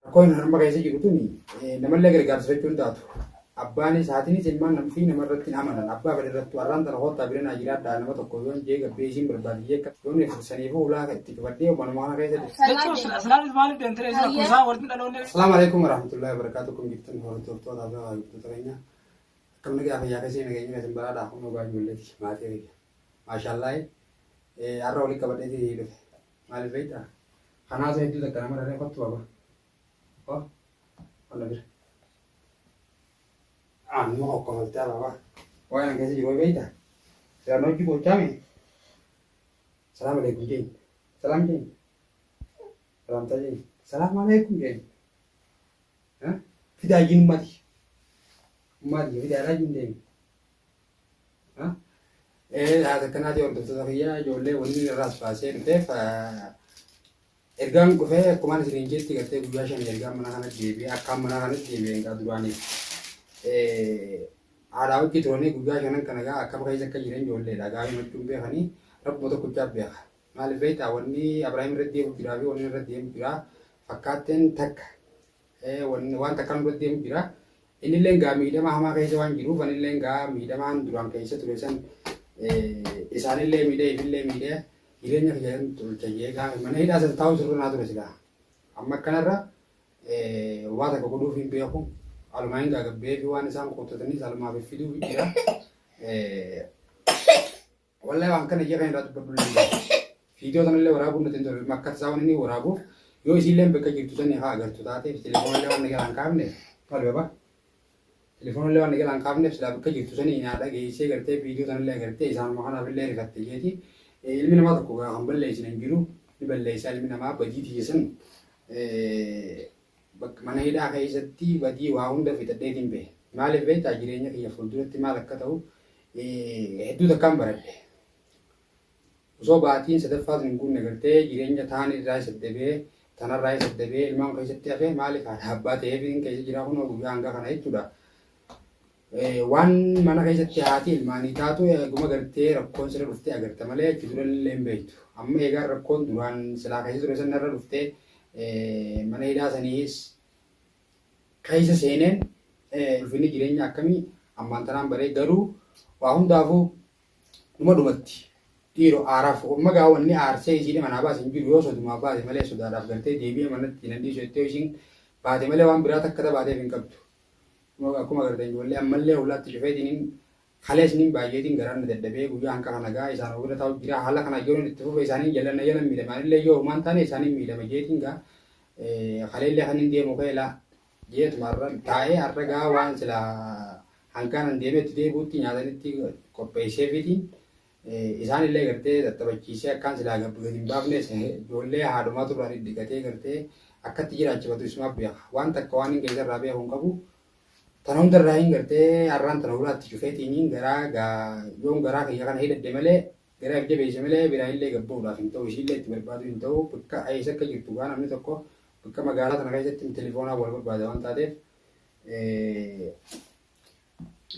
Rakkoon harma keessa jiru tuni namallee gargaarsifachuu hin taatu. Abbaanis haatinis ilmaan namfii namarratti hin amanan. Abbaa fedhe irrattu har'aan tana koottaa bira naa jiraadhaa nama tokko yoon jee gabbee isiin barbaaddi jee akka yoon ibsu saniifuu hulaa itti cufadhee manuma kana keessa jirti. Jechuun silaanis maaliif deemtee isa akkuma isaa walitti dhaloonni. Assalaamu alaikum warahmatullahi wabarakatuh kun jirtan hordoftoota fi hordoftoota keenya akkam nagaa fayyaa keessanii nageenya keessan baraadhaa kun dhugaa ijoolleeti maatii keenya maashaallahi har'a walitti qabadheeti dhufe. Maaliif beektaa? Kanaatu hedduu takka nama raree kottu baba. Ko walla bira. Amma kokkofoltee baba. Waa kana keessa jiru beektaa? Seeraan hojii gochaa mee? Salaam alaikum jenni. Salaam jenni. Salaamtaa jenni. Salaam alaikum jenni. Fidaa jiin ummati. Ummati fidaa jiin deemi. Haati akkanaatii hordoftoota kiyyaa ijoollee wanni irraas baasee dhufeef ergaan dhufee akkumaan isiniin jetti gartee guyyaa shan ergaan mana kana deebi'e akkaan mana kana deebi'e egaa duraanii haadhaa wajji turanii guyyaa shanan kana egaa akkam keessa akka jiran ijoolleedha egaa himachuun beekanii rabbuma tokkochaa beeka maaliif beektaa wanni Abiraahim irra deemu jiraa fi wanni irra deemu jiraa fakkaatteen takka Waan takkaa nurra deemu jira. Innillee gaa miidhama hamaa keessa waan jiruuf anillee gaa miidhamaan duraan keessa ture san isaanillee miidhee ifillee miidhee jireenya kiyya kan tolcha jee gaa mana hidhaa san taa'uu sirra naa ture silaa. Amma akkanarra waa takka godhuuf hin beeku. Alumaa hin gaagabbee fi waan isaan qottatanis alumaaf fiduuf jira. Wallahi waan kana ija kan irraa dubbadhu illee viidiyoo kanallee waraabuun nuti hin tolu makkat isaa waan inni waraabuuf yoo isiillee bakka jirtu sanii haa agartu taate telefoonallee waan nagaa hin kaafne maal baba telefoonallee waan nagaa hin kaafne silaa bakka jirtu sanii naa dhageessee gartee viidiyoo kanallee agartee isaanuma kanaaf illee rifatte jeeti ilmi namaa tokko kan balleessin hin jiru ni balleessaa ilmi namaa badii tiyya san Bakka mana hidhaa keessatti badii waa hunda fixadheetiin bahe. Maaliif beektaa jireenya kiyya fuulduratti maal akka ta'u hedduu takkaan baradhe. Osoo baatiin sadaffaa sun hin guunne gartee jireenya taan irraa saddabee tanarraa isa dabee ilmaan keessatti hafe maaliif haadha abbaa ta'eef hin keessa jiraa kunoo guyyaa hangaa kana jechuudha. Waan mana keessatti haati ilmaanii taatu eeguma gartee rakkoon sirra dhuftee agarta malee achi dura illee hin beektu. Amma eegaan rakkoon duraan silaa keessa ture sana irra dhuftee mana hidhaa saniis keessa seeneen ulfinni jireenya akkamii ammaan tanaan baree garuu waa hundaafuu dhuma dhumatti dhiiroo aaraaf umma gaa wanni aarsee isiin manaa baase hin jiru yoo sodumaa baate malee sodaadhaaf gartee deebi'ee manatti nan dhiisu jettee isiin baate malee waan biraa takka tabaateef hin qabdu. Akkuma agartan ijoollee ammallee hollaatti cufeetiin kalees nin baay'eetiin garaan na dadhabee guyyaa hanqafa nagaa isaan ofirra taa'u jira haala kana yoon itti fufe isaaniin jallanna yoo nan miidhama anillee yoo humaan taane isaaniin miidhama jeetiin gaa kaleellee kan hin deemu keelaa jeetuma har'a taa'ee har'a gaa waan silaa hanqaanan deemee itti deebi'utti nyaatanitti qopheesseefiitiin Isaan illee gartee tattabachiisee akkaan silaa gabbi gadi hin baafne ijoollee haadhumaa turraa dhidhigatee gartee akkatti jiraachifatu isumaaf beeka. Waan takka waan hin keessa irraa beeku hin qabu. Tana hunda irraa hin gartee har'aan tana huraatti cufeetiin garaa yoon garaa kiyya kana hidhadhe malee garaa if jabeesse malee biraa illee gabbuudhaaf hin ta'u ishiillee itti barbaaduu hin ta'u bakka eessa akka jirtu gaa namni tokko bakka magaalaa tana keessatti telefoonaan wal barbaada waan taateef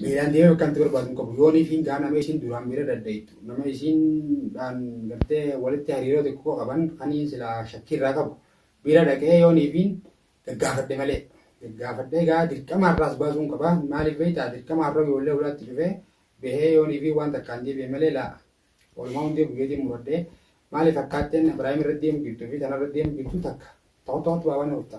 miilaan deemee bakka itti barbaadu hin qabu. Yoon ishiin gaa nama ishiin duraan bira daddaittu nama ishiindhaan gartee walitti hariiroo xiqqoo qaban kan inni silaa shakkii irraa qabu bira dhaqee yoon ishiin gaggaafadhe malee. Gaggaafadhee gaa dirqama har'aas baasuun qaba. Maaliif beektaa dirqama har'a ijoollee hulaatti cufee bahee yoon ishiin waan takkaan deebi'e malee laa. Walumaa hundee guyyeetiin muradhee maaliif akkaatteen Ibraahim irra deemu jirtu fi tanarra deemu jirtu takka tokko tokkotti baabana dhufta.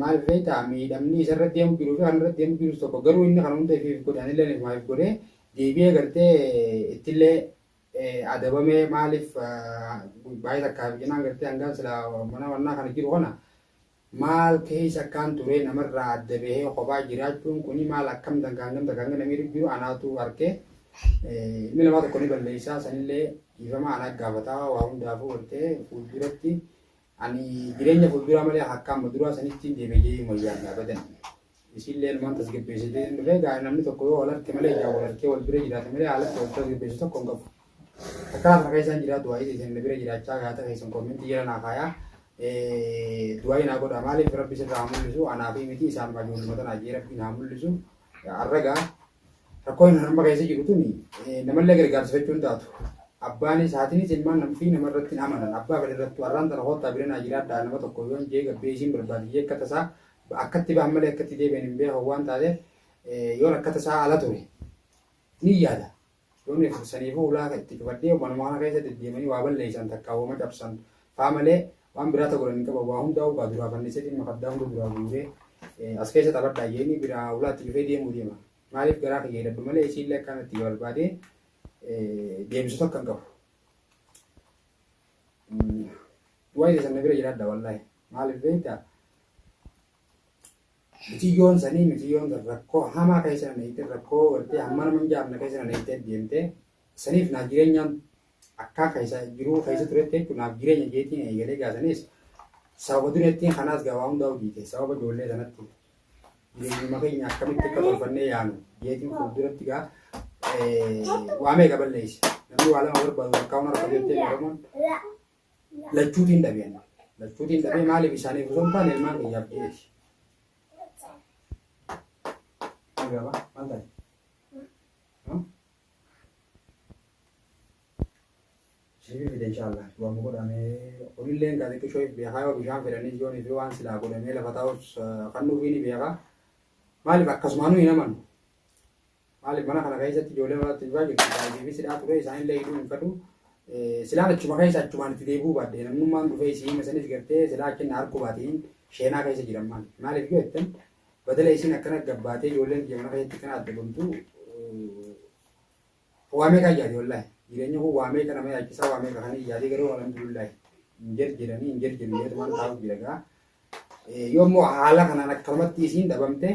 Maaliif beektaa? Miidhamni isarra deemu jiruu fi anarra deemu jirus tokko garuu inni kana hunda ifiif godhe anilleen ifumaaf godhe deebi'ee gartee ittillee adabamee maaliif baay'ee takkaaf jenaan gartee hangaan silaa mana wannaa kana jiru kana maal keessa akkaan turee namarraa adda bahee kophaa jiraachuun kuni maal akkam dangaa hangam takka hanga namii jiru anaatu harkee ilmi namaa tokko ni balleessaa sanillee dhiifama anaa gaafataa waa hundaafuu gartee fuulduratti Ani jireenya fulduraa malee akka amma duraa sanitti hin deebi'e jedhee hin wayyaanne abadan. Isiillee ilmaan tasgabbeessitee hin dhufee gaa namni tokko yoo wal harke malee ijaan wal harkee wal bira jiraate malee haalatti wal tasgabbeessu tokko hin qabu. Akka lafa keessaan jiraa du'aayii isin na bira jiraachaa gaata keessan koomentii jala naa kaayaa. Du'aayii naa godha maaliif rabbi sirraa haa mul'isu anaa fi miti isaan majuun mata naa jee rabbi naa mul'isu. Arragaa Rakkoon ani amma keessa jiru tuni namallee gargaarsifachuu hin taatu. Abbaanis haatinis ilmaan namfii nama irratti hin amanan. Abbaa fedhe irrattuu arraan tana koottaa bira naa jiraadhaa nama tokko yoon jee gabbee isiin barbaaddi jee akka tasaa akkatti bahan malee akkatti deebi'an hin beekan waan taateef yoon akka tasaa ala ture ni yaada. Yoo na ibsitanii fi ulaa ka itti cufadhee manuma kana keessa deddeemanii waa balleessan takkaa woma cabsan faa malee waan biraa ta godhan hin qaban waa hundaa'uu gaa duraa fannisee dhimma fardaa hunda duraa guuree as keessa taphadhaa jeeni biraa ulaa itti cufee deemuu deema maaliif garaa kiyya hidhadhu malee isiillee akkaan itti barbaadee deebisu takka hin qabu. Waa'ee sana bira jiraadha wallaahi maaliif beektaa Miciyyoon sanii miciyyoon tan rakkoo hamaa keessa na neeyxee rakkoo gartee hamma nama hin jaamne keessa na neeyxee deemtee saniif naaf jireenyaan akkaa keessa jiruu keessa turetti jechuun naaf jireenya jeetiin eegalee gaasaniis sababa dureettiin kanaas gabaa hundaa hojiite sababa ijoollee sanatti jireenyuma keenya akkamitti akka tolfannee yaanu jeetiin fuulduratti gaa waamee gaballeessi namni waa lama barbaadu akkaa hona rakkoo jettee oromoon lachuutiin dhabe ani. Lachuutiin dhabee maaliif isaaniif osoo hin taane ilmaan kiyyaaf jedheeti. Agaba maal taate? Sibiil fide inshaallah waan mu godhame olilleen gaa xiqqishoo if beekaa yoo bishaan fedhanii yoon fi waan silaa godhamee lafa taa'us kan nuufiin beekaa maaliif akkasumaanuu hin amanu. Maalif mana kana keessatti ijoollee maraatti duraa jirtu baay'ee sidhaa turee isaanillee hidhuu hin fadhu. Silaan achuma keessa achumaan itti deebi'uu baadde namnummaan dhufee isii hima sanis gartee silaa achi na harku baatiin sheenaa keessa jiran maal maaliif yoo jettan badala isiin akkana gabbaatee ijoolleen biyya mana keessatti kana adda gomtu waamee kan yaade wallaahi jireenyi kun waamee kana mee achisaa waamee kan yaade garuu alhamdulillahi hin jirjiranii hin jirjiru yoo tumaan taa'u jira gaa yoo immoo haala kanaan akkanumatti isiin dhabamtee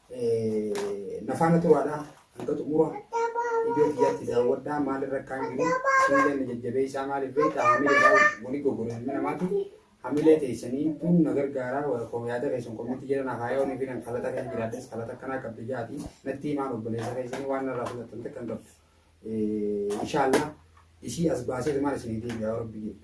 na faana turaadha hanga xumura iddoo kiyyaatti daawwadhaa maal irra akkaan jiru isinillee na jajjabeessaa maaliif beektaa hamilee daawwa wani goggoru ilmi namaatu hamilee teessanii kun na gargaaraa wal koo yaada keessan kommitti jira na haayaa olii fi nan kalata kan jiraadhes kalata akkanaa qabdi jaati natti himaan obboleessa keessanii waan narraa fudhatan takka hin qabdu inshaallah isii as baasee maal isinii deebi'aa rabbi jedhu